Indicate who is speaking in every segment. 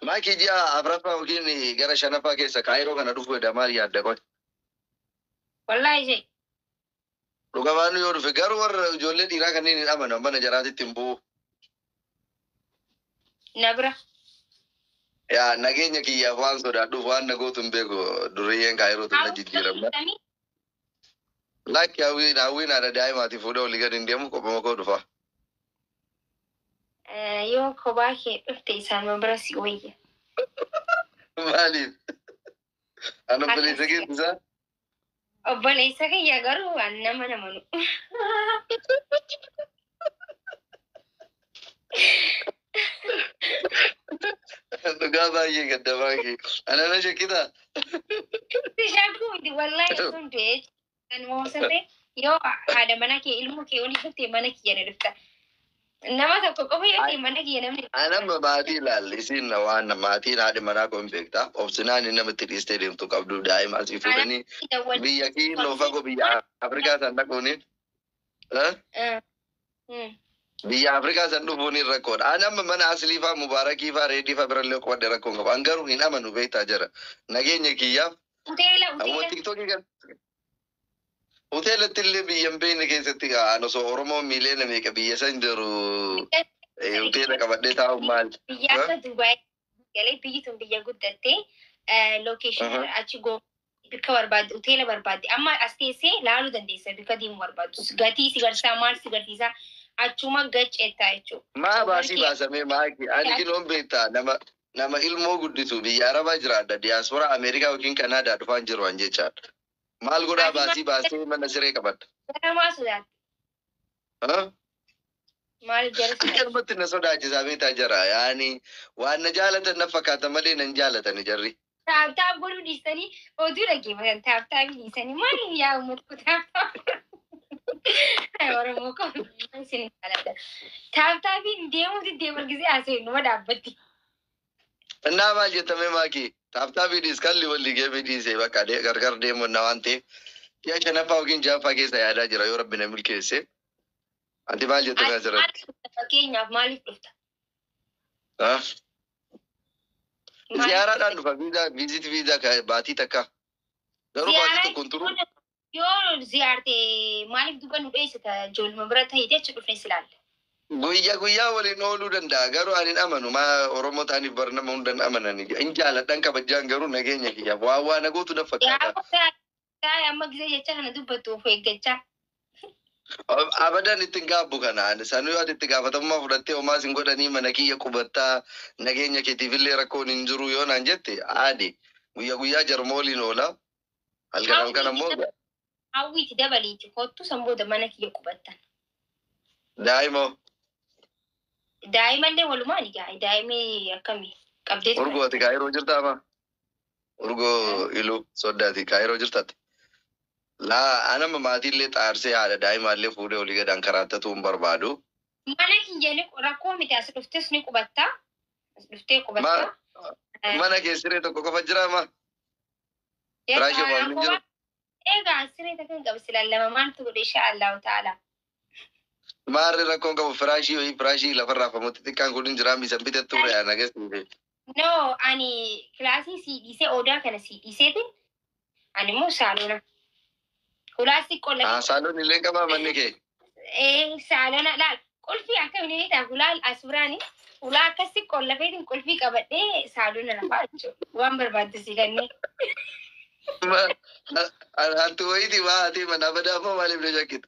Speaker 1: Maakii ji'a afraffaa yookiin gara shanaffaa keessa Kaayiroo kana dhufuu heda maal yaadda qoy?
Speaker 2: Wallaahi shee. Dhuga
Speaker 1: baannu yoo dhufe garuu warra ijoollee dhiiraa kanneen hin amanan mana jaraatitti hin bu'u.
Speaker 2: Na bira.
Speaker 1: Yaa nageenya kiyyaaf waan sodaadhuuf waan na gootu hin beeku durriyyeen Kaayiroo tun na jijjiiramna. Lakki hawwiin hawwiin haadha daa'imaati fuudhee olii gadi hin deemu qophuma koo dhufa.
Speaker 2: Eh, Yoo kophaa kee dhufte isaanuma bira si wayya.
Speaker 1: Maaliif? An obboleessa Akkas. keetti isaa?
Speaker 2: Obboleessa kiyya garuu an nama namanu.
Speaker 1: Dhugaa baay'ee gadda baay'ee. Ana na shakkitaa. Itti
Speaker 2: shakkuu miti wallaahi sun du'ee kan moosate yoo haadha mana kee ilmoo kee olii dhuftee mana kiyya ni dhufta. Nama tokko qofa yoo ta'e mana kiyya namni. Anamma maatii ilaalle
Speaker 1: isiin na waan maatiin haadhi manaa kun beektaa. Obsinaan inni namatti dhiistee deemtu qabdu daa'ima asii fuudhanii biyya kiiloo fagoo biyya Afrikaa san dhaquuni. Eh? Eh, mm. Biyya Afrikaa san dhufuun hin rakkoodha. Ani amma mana Asliifaa, Mubaarakiifaa, Reediifaa birallee qubadhe rakkoo hin qabu. An garuu hin amanu beektaa jara. Nageenya kiyyaaf Hoteela Ammoo hoteela. tiktookii kan hoteelatti illee biyya hin beekne keessatti ka'an osoo Oromoo miiliyoona meeqa biyya san jiru eh, hoteela qabadhee taa'u maal? Biyyaasa Dubaay.
Speaker 2: galee biyyi tun biyya guddatte location Aha. achi go bakka barbaadde hoteela barbaadde amma as teessee laaluu dandeessa bakka deemuu barbaaddu gatii si garsiisaa maal si garsiisaa achuma gacceettaa jechuudha. Maa baasii Warqee- baasamee
Speaker 1: maaki ani kiloon beektaa nama nama ilmoo guddisu biyya arabaa jiraadha diyaaspora ameerikaa yookiin kanaadaa dhufaan jiru an jechaadha maal godhaa Ati ma- baasii baasee mana siree qabadha. Ganamaa sodaatti.
Speaker 2: Ah? Maal Akka jarsa? jarmatti na sodaachisaa
Speaker 1: beektaa jara. Yaani waan na jaalatan na fakkaata malee nan jaalatani jarri. Taaptaap godhuu
Speaker 2: dhiistanii oduu dhaggeeffatan taaptaabii dhiisanii maaliif yaa uummata koo taaptaap? Oromoo koo isin jaalladha. Taaptaabiin deemuuti deemargisee haasa'e numa dhaabbatti.
Speaker 1: Innaa maal jettamee maakii taaptaabii dhiis kalli walli geemii dhiisee bakka de- gargar deemuu innaa waan ta'eef ji'a shanaffaa yookiin ja'affaa keessa yaadaa jira yoo rabbi na milkeesse. Ati maal jettamee asirratti? Fakkeenyaaf maaliif
Speaker 2: dhufta? Ha? Maaliif-
Speaker 1: Ziyaaraadhaan dhufa viizaa viizit viizaa ka- baatii takka. Garuu baatii Ziyaaraa tokkoon turuu jechuun Yoo
Speaker 2: ziyaarte maaliif duba nu dheessita ijooluma bira ta'ite achi dhufnee si laalla. Guyya guyyaa
Speaker 1: waliin ooluu danda'a garuu ani hin amanu maa oromoo ta'aniif bar nama hundan amanani hin jaaladhan kabajjaan garuu nageenya kiyyaaf waan waa na gootu naf Yaa fakkaata. gooftaa taa'e amma
Speaker 2: gisee jecha kana dubbattu of eeggachaa. Ab- Abadan
Speaker 1: itti hin gaabbu kana ani sanuu ati itti gaafatamummaa fudhattee homaas hin godhanii mana kiyya qubattaa nageenya keetiifillee rakkoon hin jiru yoo naan jette aadi guyya guyyaa jaruma waliin oola Halkan halkan ammoo Hawwiiti
Speaker 2: dabaliiti kottu san booda mana kiyya qubattan.
Speaker 1: daa'imoo
Speaker 2: Daa'imallee walumaan egaa daa'imni akkami qabdee ture. urgooti kaayiroo jirta ama
Speaker 1: urgoo iluu soddaati kaayiroo jirtatti. Laa anama maatiillee xaarsee haadha daa'imaallee fuudhee olii gadaan karaattatuu hin barbaadu. Mana kiyya
Speaker 2: ni rakkoo miti as dhuftes ni qubatta. As dhuftee qubatta. Mana kee
Speaker 1: siree tokko qofa jira ama Firaasha waan hin jiru. Egaa siree
Speaker 2: takkan qaba silaan lama maaltu godhe insha Allahu ta'ala.
Speaker 1: Maarri rakkoon qabu firaashii wayii firaashii lafarraa famutti xiqqaan kun hin jiraam isan bite turre ana gasiife. No
Speaker 2: ani kilaasii sii dhiisee odaa kana sii dhiiseetiin ani immoo saalona. Hulaas xiqqoo lafa. Saaloon illee qabaa manni
Speaker 1: kee. Ee saalona
Speaker 2: laal qulfii akka inni beektaa hulaal asuraani hulaa akkas xiqqoo lafeetiin qulfii qabadhee saalona lafaa jechuudha. Waan barbaaddu si kennee.
Speaker 1: Hattu wayiiti waa haatee manaa badaa immoo maaliif na shakkita?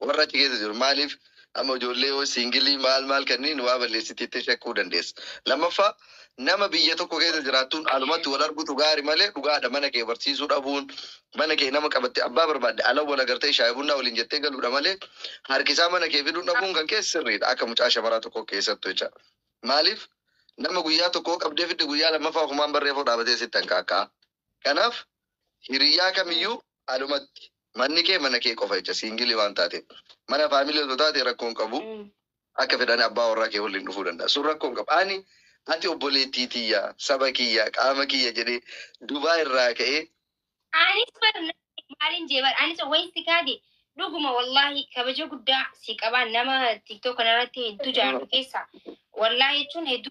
Speaker 1: Warra achi keessa jiru maaliif amma ijoollee yoo siingilii maal maal kanniin waa balleessiti jettee shakkuu dandeessa. Lammaffaa nama biyya tokko keessa jiraattuun alumatti wal argutu gaari malee dhugaadha mana kee barsiisuu dhabuun mana kee nama qabatte abbaa barbaadde ala wal agartee shaayii bunnaa waliin jettee galuudha malee harkisaa mana kee fiduun dhabuun kan kee sirriidha akka mucaa shamaraa tokko keessattu jecha. Maaliif nama guyyaa tokko qabdee fidde guyyaa lammaffaa kumaan barreefoo dhaabatee sitti hanqaaqqaa. Kanaaf hiriyyaa kamiyyuu alumatti Manni kee mana kee qofa jecha siingilii waan taateef. Mana faamilii osoo taatee rakkoo hin qabu. Akka fedhani abbaa warraa kee wallin dhufuu danda'a. Sun rakkoo hin qabu. Ani ati obboleettii tiyya, saba kiyya, qaama kiyya jedhee Dubai irraa ka'ee. Anis
Speaker 2: bar namni maalin jee bar anis wayin si kaade dhuguma wallahi kabaja guddaa si qabaa nama tiktok kanarratti heddu jaallu keessa wallahi jechuun heddu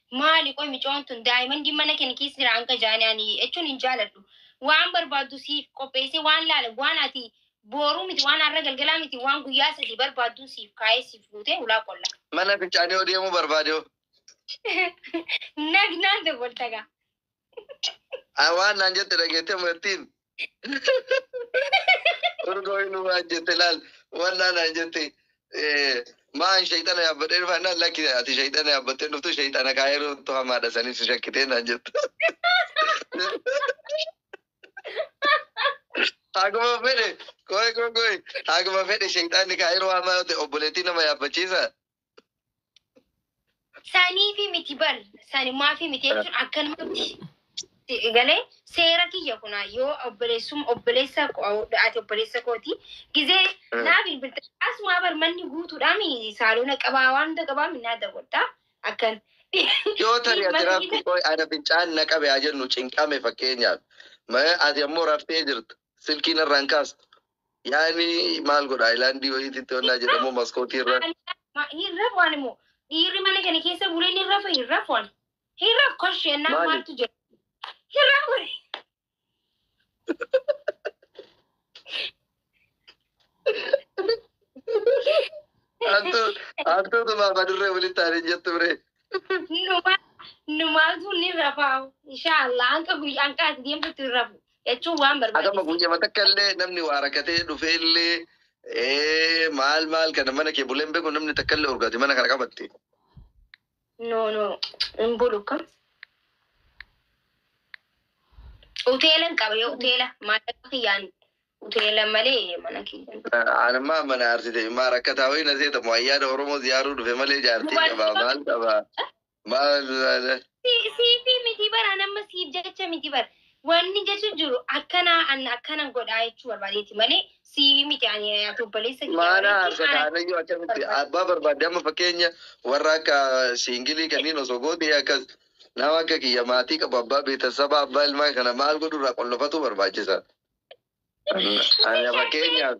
Speaker 2: Maali qoy micoon tun daimondin mana keni kiis jira hanga jaani ani echun hin jaaladhu waan barbaaddu siif qopheesse waan laala waan ati booruu miti waan arra galgalaa miti waan guyyaa sadii barbaaddun siif kaa'ee siif guute hulaa qolla. Mana fincaanii hoo
Speaker 1: deemuu barbaade hoo. Nagnaan
Speaker 2: dawwalta gaa.
Speaker 1: Ah, waan naan jette dhageettee martiin urgoo inni waan jette laal waan naan naan jette eh, maan shayxana yaabbadhee dhufa naan lakki ati shayxana yaabbattee dhuftu shayxana kaayiruutu hamaadha saniif si shakkitee naan jette Haguma fedhe, koi koi koi, haguma fedhe shayxaanni kaayiroo hamaa yoo ta'e obboleettii nama yaabbachiisa.
Speaker 2: Saniifi miti bar sanumaafi miti jechuun akkanumatti galee seera kiyya kuna yoo obboleessum obboleessa ko- ati obboleessa kooti gizee naa bilbilta asumaa bar manni guutuudhaan saalona qabaa waan hunda qabaa minnaa dagodhaa akkan yoo
Speaker 1: tari ati rafti qoy ana fincaan na qabe haa jennu cinqame fakkeenyaaf Ma- ati ammoo raftee jirta silkiin irraan kaastu Yaani maal godha ayilaandii wayiititti onnaa jedhamu maskootii irra. Hin rafu ani
Speaker 2: moo dhiirri mana kana keessa bulee ni rafa hin rafu ani. Hin rafu koshee ennaa Maali? maaltu jira. Hin rafu
Speaker 1: ani. Hantuutu maaf adurree walitti aanee jettu biree. Numa numaaltu
Speaker 2: ni rafa inshaallah hanqa guyyaa hanqa ati deemtutti hin rafu. jechuun waan Adama barbaachisu. guyyama takka illee
Speaker 1: namni waa rakkatee dhufee illee ee, maal maal kana mana kee buleen beeku namni takka illee urgaati mana kana qabatte. No, no, hin bulu kun. Hoteela hin qaba yoo
Speaker 2: hoteela maallaqa kiyyaan hoteela malee mana kiyyaan. Anammaa mana
Speaker 1: arsite maa rakkataa wayii na seetamu ayyaana Oromoo ziyaaruu dhufe malee jaartii qabaa maal qabaa. Maal laala? Si- Siifii
Speaker 2: miti bara nama siif jecha miti bara. Wanni jechu jiru akkana an akkana godhaa jechuu barbaadeeti malee siifii miti ani ati obboleessa kiyya Maana walitti harka ana kaanayyuu
Speaker 1: akkamitti barbaada. abbaa barbaadde amma fakkeenya warra akka siingilii kanneen osoo goote akkas nama akka kiyya maatii qabu abbaa beetasaba abbaa ilmaa kana maal godhurraa qollofatu barbaachisa. Ani fakkeenyaaf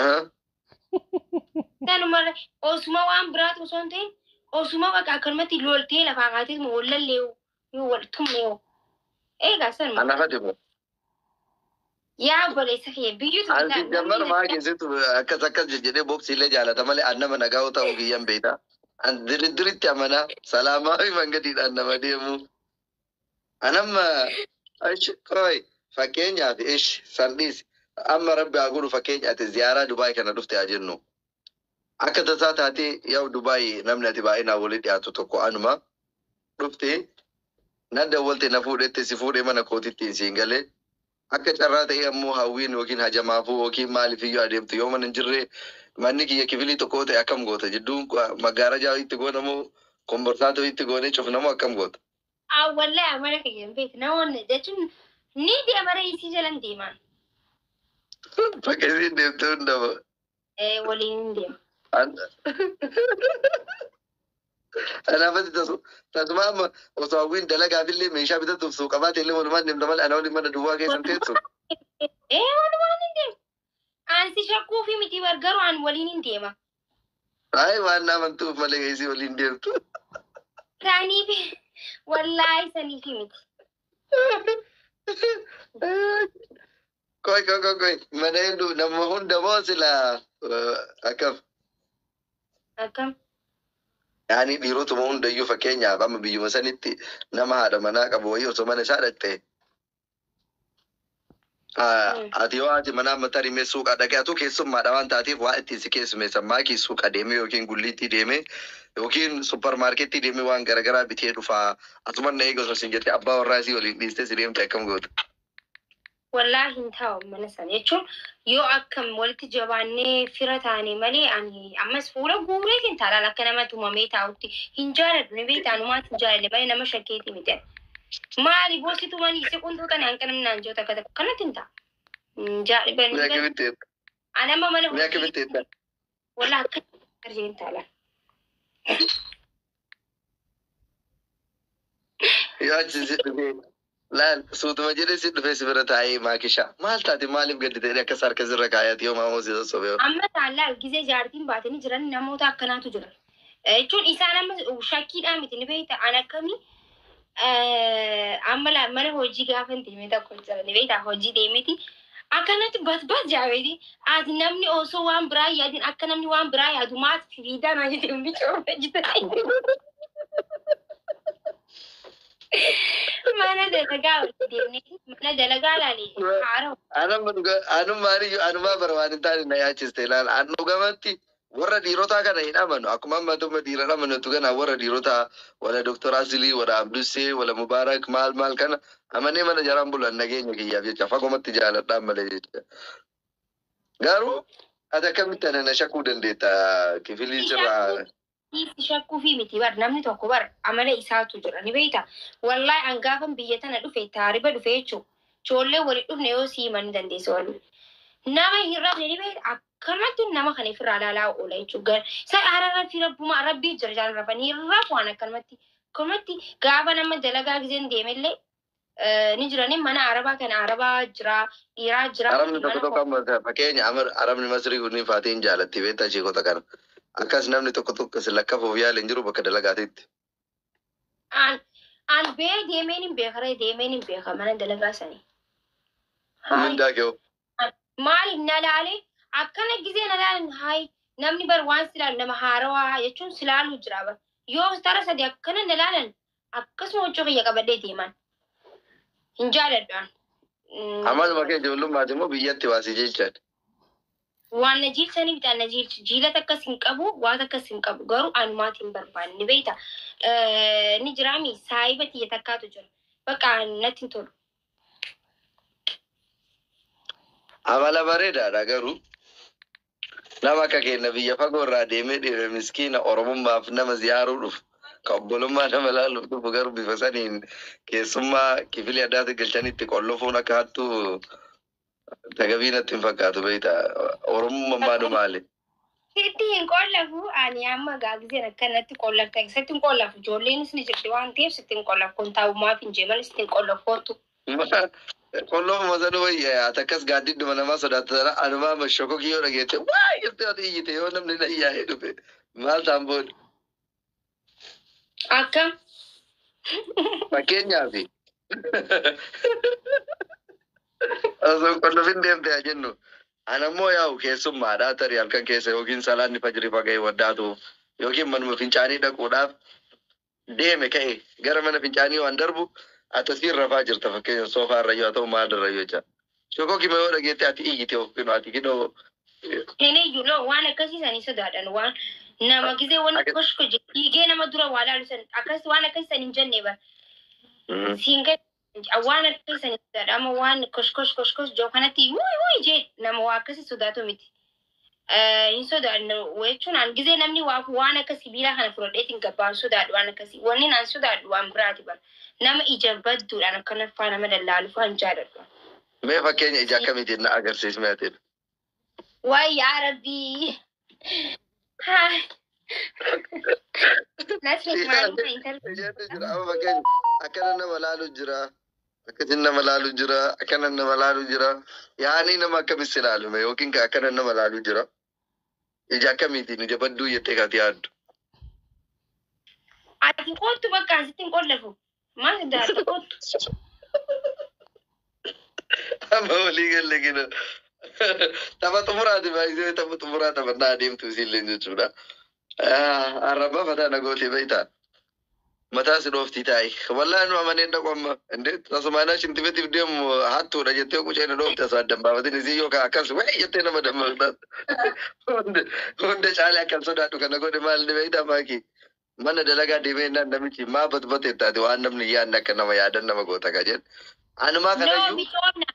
Speaker 2: Ahaa. Kanuma osuma waan biraatu osoo hin ta'in osuma bakka akkanumatti loltee lafaa kaatee moo wallallee yoo wal tumne yoo. Eegaa sanuma. Ana fati kun. Yaa obboleessa kiyya biyyutu An si jammar maa keessattu
Speaker 1: akkas akkas jejjedhee boksii illee jaalata malee an nama nagaa yoo ta'u kiyyan beekta. An diriddiritti amanaa salaamaa fi mangadiidhaan nama deemu. Anamma ish qoy fakkeenyaaf ish san dhiisi. Amma rabbi haa godhu fakkeenya ati ziyaaraa Dubaay kana dhufte haa jennu. Akka tasaa taatee yaa'u Dubaay namni ati baay'inaan walitti dhiyaatu tokko anuma dhufte na dawwalte na fuudhette si fuudhee mana kootittiin siin galee akka carraa ta'ee ammoo hawwiin yookiin hajamaafuu yookiin maalifiyyuu adeemtu yoo mana hin jirre manni kiyya kifilii tokko yoo ta'e akkam goota jidduun maggaarajaa itti goona moo komborsaatoo itti goonee cufna moo akkam goota. Awwalle
Speaker 2: amala kiyya hin beektu namoonni jechuun ni deema reesii jalan deemaan.
Speaker 1: Bakka isiin deemte hundaba. Eh, Waliin
Speaker 2: hin deema.
Speaker 1: Anaafatti tasu tasuma amma osoo hawwiin dalagaaf illee meeshaa bitatuuf suuqabaate illee walumaan deemta malee ana waliin mana duwwaa keessan teessu. Eh,
Speaker 2: walumaan hin deema. Aan si shakkuufi miti bar garuu aan waliin hin deema. Ayi
Speaker 1: waan na amantuuf malee ka isii waliin deemtu.
Speaker 2: Isaaniif wallaahi saniif miti.
Speaker 1: Koi koi koi koi mana hedduu nama hunda moo silaa eh, akkam
Speaker 2: Akkam?
Speaker 1: yaani dhiirotuma hundayyuu fakkeenyaaf amma biyyuma sanitti nama haadha manaa qabu wayii osoo mana isaa dhaqxe Ati yoo haati manaa amma tarii mee suuqa dhaqee atuu keessummaadha waan taateef waa ittiin si keessumeessan maakii suuqa deemee yookiin gulliittii deemee yookiin supparmaarkettii deemee waan garagaraa bitee dhufaa asuman na eega osoo sin jette abbaa warraa isii waliin dhiistee si deemte akkam goota.
Speaker 2: Wallaa hin taa'u mana sana jechuun yoo akkam walitti jabaannee fira taane malee ani ammas fuula guuree hin taalaan akka nama tumamee taa'utti hin jaaladhu ni beektaa numaatti hin jaaladhe malee nama shakkeetii miti. Maali boossi tumanii si quntuu tani hanqinni naan jiru takka takka kanatti hin ta'a. Jaadhiban. Mi'a kamitti eebba? Ani amma mana Mi'a kamitti eebba? Walaa akka arjeen taala.
Speaker 1: Yoo achi si dhufee laal suutuma jedhee si dhufee si bira taa'ee maakishaa. Maal taate maaliif gaddi ta'e akka sarka sirra kaayaati yoo maamoo si sossobee. Amma taallaa gizee
Speaker 2: jaartiin baatanii jiran namoota akkanaatu jira. jechuun isaan amma shakkiidhaan miti ni beekta an akkamii amma la- mana hojii gaafa hin deemee tokko jira ni beekta hojii deemiti akkanatti basbas jaabeeti ati namni osoo waan biraa yaadin akka namni waan biraa yaadu maati fiidaa naa jete hundi cooma jita mana dalagaa walitti deemnee mana dalagaa laale haara Anuma dhuga- anuma
Speaker 1: maaliyyuu anumaa bara waan hin taane na yaachiste ilaala. An dhugamatti Warra dhiirotaa kana hin amanu akkuma amma dhuma dhiiran amanatu kana warra dhiirotaa wala Dr. Asilii wala Abdussee wala Mubaarak maal maal kana amanee mana jaraan bulan nageenya kiyyaaf jecha fagomatti jaaladhaan malee jecha garuu ati akkamitti ana na shakuu dandeetta kifilii sirraa Dhiisi shakkuufii
Speaker 2: miti bar namni tokko bar amala isaatu jira ni beekta. Wallahi an gaafan biyya tana dhufe taariba dhufe jechuun ijoollee waliin dhufne yoo sii himan ni dandeessa walii. Nama hin rabne ni beekta Karmattin nama kana ifirraa laalaa oola jechuun gar sa ararratti rabbumaa rabbii jira jaan rafanii rafu waan akkanumatti karmatti gaafa nama dalagaa gizeen deemellee eh, ni jiranii mana arabaa kana arabaa jira dhiiraa jira Arabni tokko tokko
Speaker 1: amma fakkeenya amar arabni masrii kunniin faatiin jaalatti beektaa sheekota kana. Akkas namni tokko tokko si lakkafuuf yaala hin jiru bakka dalagaatiitti. An
Speaker 2: an bee deemeen hin beeka ree deemeen hin beeka mana dalagaa sanii. Hamma
Speaker 1: Mindaa kee hoo? maali
Speaker 2: na laale akkana gizee na laalan haay namni bar waan si laalu nama haarawaa jechuun si laaluu jira bar yoo tara sadi akkana na laalan akkasuma huccuu kiyya qabadhee deeman hin jaaladhaan. Amaluma
Speaker 1: kee ijoollummaati moo biyyatti waasi jechaan?
Speaker 2: Waan na jiilchanii bitaan na jiilchi. Jiila takkas hin qabu, waa takkas hin qabu. Garuu anumaati hin barbaanne. Ni beekta. Eh, Ni jiraami saahiba tiyya takkaatu jira. Bakka natti hin tolu.
Speaker 1: Amala bareedaadha garuu nama akka keenya biyya fagoo irraa deemee dhiira miskiina Oromummaaf nama ziyaaruu dhufu kan obbolummaa nama ilaaluuf dhufu garuu bifa saniin keessummaa kifilii addaatti galchanii itti qollofuun akka hattuu Tagabii natti hin fakkaatu beekta. Oromummaan maadhu maali? Sitti hin
Speaker 2: qollafu ani amma gaagizeen akkanatti qollafta sitti hin qollafu ijoolleenis ni jirti waan ta'eef sitti hin qollafu kun taa'ummaaf hin jeeman sitti hin qollafu kootu.
Speaker 1: Qolloo masanuu wayya yaata akkas gaaddidduma namaa sodaata sana anumaa amma shokokii yoo dhageette waa jirti yoo iyyite yoo namni na iyyaa'ee dhufe maal taan booda.
Speaker 2: Akka Fakkeenyaaf
Speaker 1: osoo qullubin deemte haa jennu. Ana immoo yaa'u keessummaadha tarii halkan keessa yookiin salaanni fajrii faga'e waddaatuuf yookiin manuma fincaanii dhaquudhaaf deeme ka'e gara mana fincaanii waan darbu atasiin rafaa jirta fakkeenya soofaa irra yoo ta'u maal irra yoo jecha Shoko kima yoo dhageette ati iyyite of kino ati kino Hin iyyu
Speaker 2: no waan akkasii sanii sodaadhan waan nama gizee waan Akka- koshko je dhiigee nama dura waa laalu san akkas waan akkasii san hin jenne bar siin gad waan akkasii san hin sodaadha amma waan koshkosh koshkosh joo kanatti wuy wuy jee nama waa akkasii sodaatu miti. eh, hin sodaanne jechuun an gizee namni waa- waan akka sibiilaa kana fudhadheetiin gabbaan sodaadhu waan akkasii wanni an sodaadhu waan biraati bara nama ija badduudhaan akkana faa nama dallaalu faa hin jaaladhu. Mee
Speaker 1: fakkeenya ija akkamiitiin na agarsiismee ati? Waay
Speaker 2: yaa rabbii. Haa. Nasri maaluma intalli. Ijoollee
Speaker 1: jira amma fakkeenya akkana nama laalu jira. Akkasiin nama laalu jira, akkanan nama laalu jira. Yaanii nama akkamitti si laalu mee yookiin ka akkanan nama laalu jira. Ija akkamiitiin ija badduu jettee kaati yaaddu.
Speaker 2: Ati kottu bakka asitti hin qollafu.
Speaker 1: Maal daata kottu? Amma walii galle gina. Tapha xumuraati baay'isee tapha xumuraa taphannaa adeemtu isiillee jechuudha. Arrabaa fataa na gootee beektaa. Mataa si dhooftii taa'i. Wallaahi nu amanee hin dhaqu amma. Indee tasumaa naa shintifetiif deemu hattuudha jettee qucee na dhoofte asoo addan baafatin isii yoo kaa akkas wee jettee nama dammaqxaan. Hunda hunda caalee akkan sodaadhu kana godhe maal ni beektaa maakii. Mana dalagaa deemee innaan namichi maa batbate ittaati waan namni hin yaadne akka nama yaadan nama goota ka jedhu. Anumaa No, kanayyuu micoodha.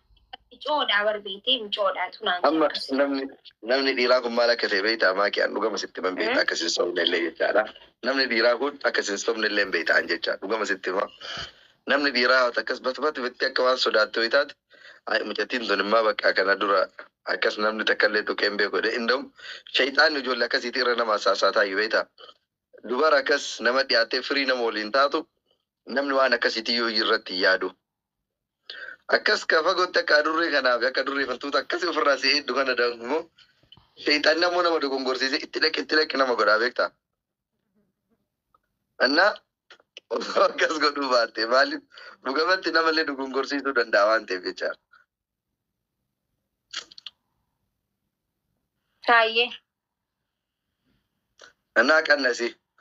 Speaker 1: Micoodha
Speaker 2: barbeetee micoodha tunaan amma jira. namni
Speaker 1: namni dhiiraa kun maal akka ta'e beektaa maakii an dhugama sitti man beekta akka sin sobne illee jechaadha. Namni dhiiraa kun akka sin sobne illee beekta an jecha dhugama sitti hima. Namni dhiiraa yoo akkas batbatu bitti akka waan sodaattu yoo taate ay mucattiin tun immaa bakka kana dura akkas namni takka illee tuqee hin beeku jedhee inda'u shayxaanni ijoollee akkasiitii irra nama saasaataa iyyuu beektaa. Dubara akkas nama dhiyaattee firii nama waliin taatu Namni waan akkasiitii yoo irratti hin yaadu. Akkas ka fagootti akka adurree kanaa fi akka adurree fartuuta akkasii ofirraa si eeddu kana dangumoo sheexanni ammoo nama dogongorsiisee itti dhaqi itti dhaqi nama godhaa beektaa. Annaa osoo akkas godhuu baatte maaliif dhugamatti namallee dogongorsiisuu danda'a waan ta'eef jecha. Taayyee. Annaa qannasi.